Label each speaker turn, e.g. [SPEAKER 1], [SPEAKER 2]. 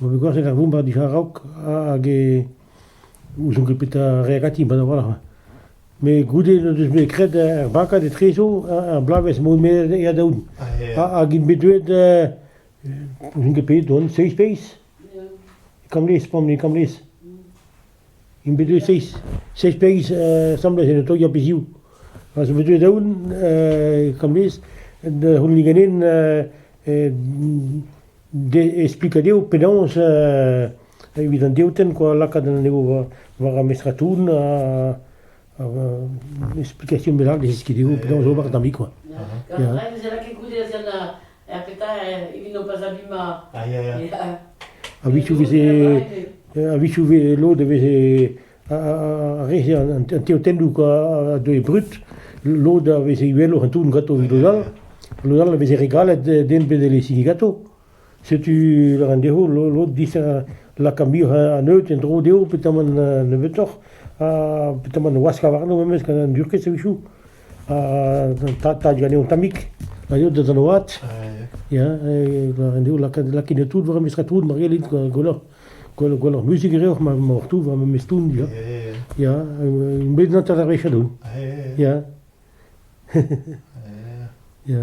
[SPEAKER 1] Ma vez gwazhiet ar vombardier a-raok hag e ouzon ket petra a rae ganti mat a-walc'h. Met goude n'o deus bet graet ar bakad etrezo ar bloavezh m'on bet adaout. Hag int bet deuet, ouzon ket pet on, seizh feiz? Kamlez, p'on bet kamlez. Int bet deuet seizh, seizh pegis asambles en otoioù a-bezhioù. Ha zo bet deuet daoù kamez da c'hounit ganin e splikañ dezho penaos evit an deotenn kwa lakaat anezho war ar mestratourn ha explication bennak da zeskiñ dezho penaos ober da'm zi kwa. Ya.
[SPEAKER 2] Ya, petra, evit n'ho pas abima. Ya, ya, ya. A-vichou veze,
[SPEAKER 1] a-vichou veze lod a veze, a re an teotennou quoi, a deue brut, lod a veze uheloc'h an toun gato evit lod all, lod all a veze re galet den bet e sigi gato. Setu, laren deho, lod dizan lakamir an eut en dro deho, petamant nebeutoc'h, ha petamant waska warno memes gant an durkez a-vichou. an tad-tad ganeomp tammig, a eo deus an oad, ya, en eo lakaet tout war memes tout, mar gellit gwelloc'h, gwelloc'h musik e reoc'h, ma tout war memes toun, ya, ya, bet natat ar wech a-doun, ya, ya.